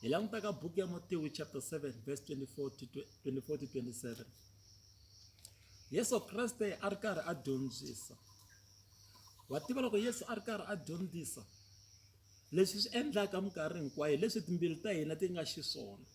hi languta ka buku ya motiwi chapter 7 verse 24-27 yesu kreste a ri karhi a dyondzisa wa tiva loko yesu a ri karhi a dyondzisa leswi swi endlaka minkarhi hinkwayo leswi timbilu ta hina ti nga xiswona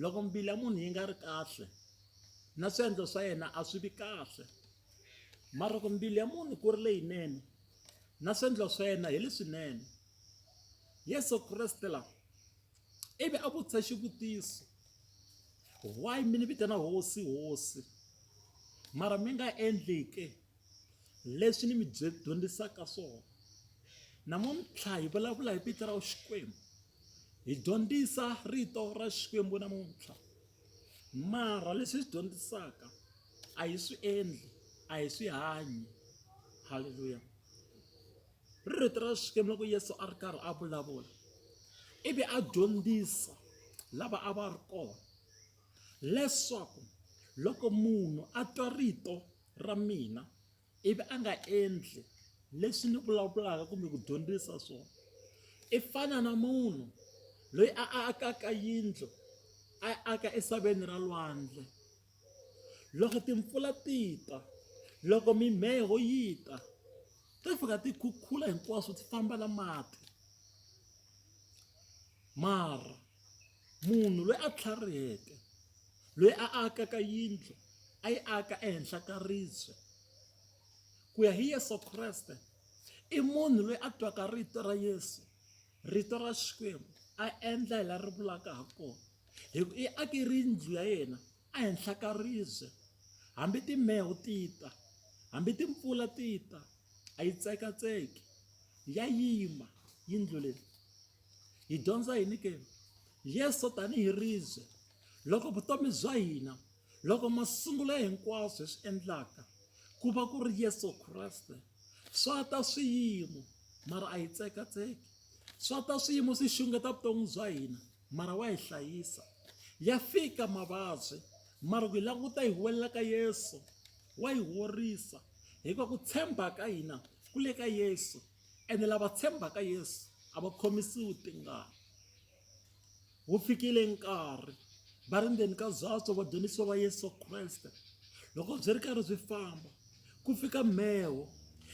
loko mbilu ya munhu yi nga ri kahle na swiendlo swa yena a swi vi kahle mara ku mbilu ya munhu ku ri leyinene na swiendlo swa yena hi leswinene yesu kreste la ivi a vutisa xivutiso why mi ni vitana hosi hosi mara mi nga endlike leswi ni mi dyondzisaka swona namuntlha hi vulavula hi vito ra xikwembu hi dyondzisa rito ra xikwembu namuntlha mara leswi swi dyondzisaka a hi swi endli a hi swi hanyi halleluya ri rito ra xikwembu loko yesu a ri karhi a vulavula ivi a dyondzisa lava a va ri kona leswaku loko munhu a twa rito ra mina ivi a nga endli leswi ni vulavulaka kumbe ku dyondzisa swona i fana na munhu loyi a akaka yindlu a aka esaveni ra lwandle Loko timpfula ti ta, loko mimheho yi ta, ti fika ti khukhula hinkwaswo ti famba na mati. Mara munhu loyi a tlhariheke, loyi a akaka yindlu a yi aka ehenhla ka ribye, ku ya hi Yeso Kreste i munhu loyi a twaka rito ra Yeso, rito ra Xikwembu a endla hi laha ri vulaka ha kona. hi ku i ake rindlu ya yena ehenhla ka ribye hambi timheho ti ta hambi timpfula ti ta a yi tsekatseki ya yima yindlu leyi hi dyondza yini ke yesu tanihi ribye loko vutomi bya hina loko masungulo ya hinkwaswo hi swi endlaka ku va ku ri yesu kreste swa ta swiyimo mara a yi tsekatseki swa ta swiyimo swi xungeta vutomi bya hina Mara wa hi hlayisa. Ya fika mavabyi, mara ku hi languta hi huwelela ka Yesu, wa hi horisa. Hikuva ku tshemba ka hina ku le ka Yesu, ene lava tshembaka Yesu a va khomisiwi tingana. Wu fikile nkarhi va ri ndzeni ka byatso vadyondzisiwa va Yesu Kreste loko byi ri karhi byi famba ku fika mheho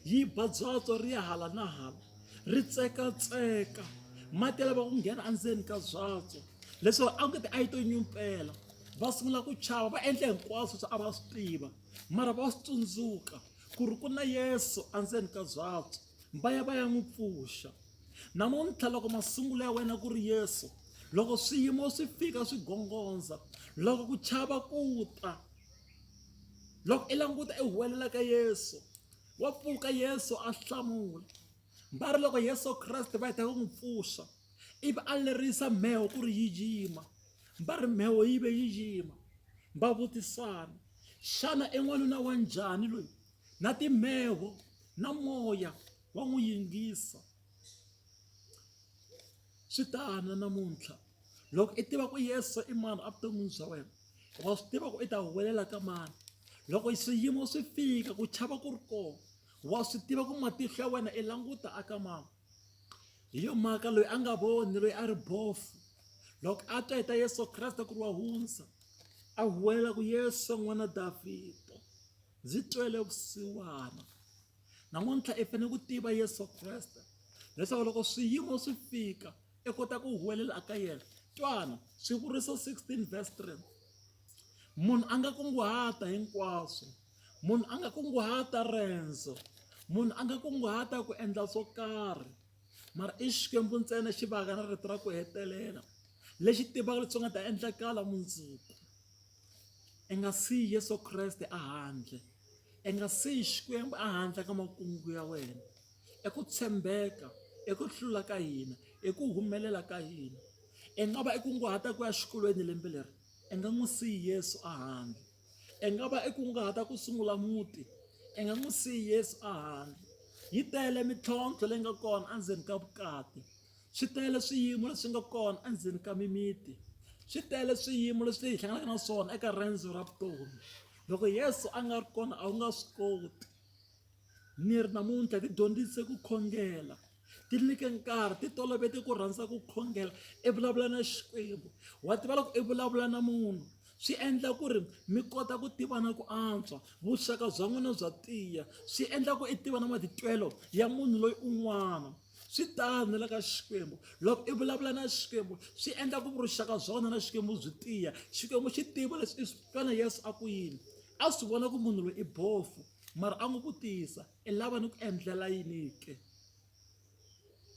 yi ba byatso ri ya hala na hala ri tsekatseka mati ya lava ku nghena endzeni ka byatso leswaku a ku ti a yi to nyumpela va sungula ku chava va endla hinkwaswo swi a va swi tiva mara va swi tsundzuka ku ri ku na yesu endzeni ka byatso va ya va ya n'wi pfuxa namuntlha loko masungulo ya wena ku ri yesu loko swiyimo swi fika swi gongondza loko ku chava ku ta loko i languta i huwelela ka yesu wa pfuka yesu a hlamula va ri loko yesu kreste va heta ku n'wi pfuxa ivi a lerisa mheho ku ri yi yima va ri mheho yi ve yi yima va vutisana xana i n'wanuna wa njhani loyi na timheho na moya wa n'wi yingisa Swi tano namuntlha loko i tiva ku yesu i mani evuton'wini bya wena wa swi tiva ku i ta huwelela ka mani loko swiyimo swi fika ku chava ku ri kona wa swi tiva ku matihlo ya wena i languta aka mani hi yo mhaka loyi a nga voni loyi a ri bofu loko a twa hi ta yesu kreste ku ri wa hundza a huwelela ku yesu n'wana davhida ndzi twele vusiwana namuntlha i fanele ku tiva yesu kreste leswaku loko swiyimo swi fika i kota ku huwelela aka yena twana swivuriso 16 verse 3 munhu a nga kunguhata hinkwaswo munhu a nga kunguhata rendzo munhu a nga kunguhata ku endla swo karhi mara i xikwembu ntsena xi vaka na rito ra ku hetelela lexi tivaka leswi nga ta endlakala mundzuku I nga siyi Yesu Kreste a handle. I nga siyi Xikwembu a handle ka makungu ya wena. I ku tshembeka, i ku hlula ka hina, i ku humelela ka hina. I nga va i kunguhata ku ya xikolweni lembe leri, i nga n'wi siyi Yesu a handle. I nga va i kunguhata ku sungula muti, i nga n'wi siyi Yesu a handle. Yi tele mintlhontlho leyi nga kona endzeni ka vukati. swi tele swiyimo leswi nga kona endzeni ka mimiti swi tele swiyimo leswi hi hlanganaka na swona eka riendzo ra vutomi loko yesu a nga ri kona a wu nga swi koti ni ri namuntlha ti dyondzise ku khongela ti nyike nkarhi ti tolovete ku rhandza ku khongela i vulavula na xikwembu wa tiva loko i vulavula na munhu swi endla ku ri mi kota ku tivana ku antswa vuxaka bya n'wina bya tiya swi endla ku i tiva na matitwelo ya munhu loyi un'wana swi tano le ka xikwembu loko i vulavula na xikwembu swi endla ku vuxaka bya wena na xikwembu byi tiya xikwembu xi tiva leswi i swi twana yesu a ku yini a swi vona ku munhu loyi i bofu mara a n'wi vutisa i lava ni ku endlela yini ke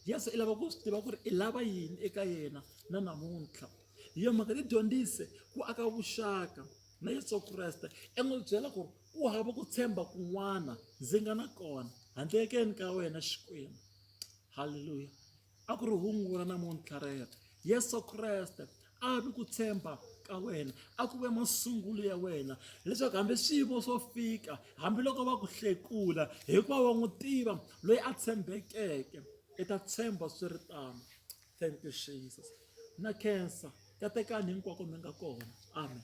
yesu i lava ku swi tiva ku ri i lava yini eka yena na namuntlha hi yo mhaka tidyondzise ku aka vuxaka na yesu kreste i n'wi byela ku ri Ku hava ku tshemba kun'wana ndzi nga na kona handle ekeni ka wena Xikwembu. Haleluya. A ku ri hungula namuntlha rero. Yesu Kreste a vi ku tshemba ka wena a ku ve masungulo ya wena leswaku hambi swiyimo swo fika hambiloko va ku hlekula hikuva wa n'wi tiva loyi a tshembekeke i ta tshemba swi ri tano thank you jesus na khensa katekani hinkwako mi nga kona amen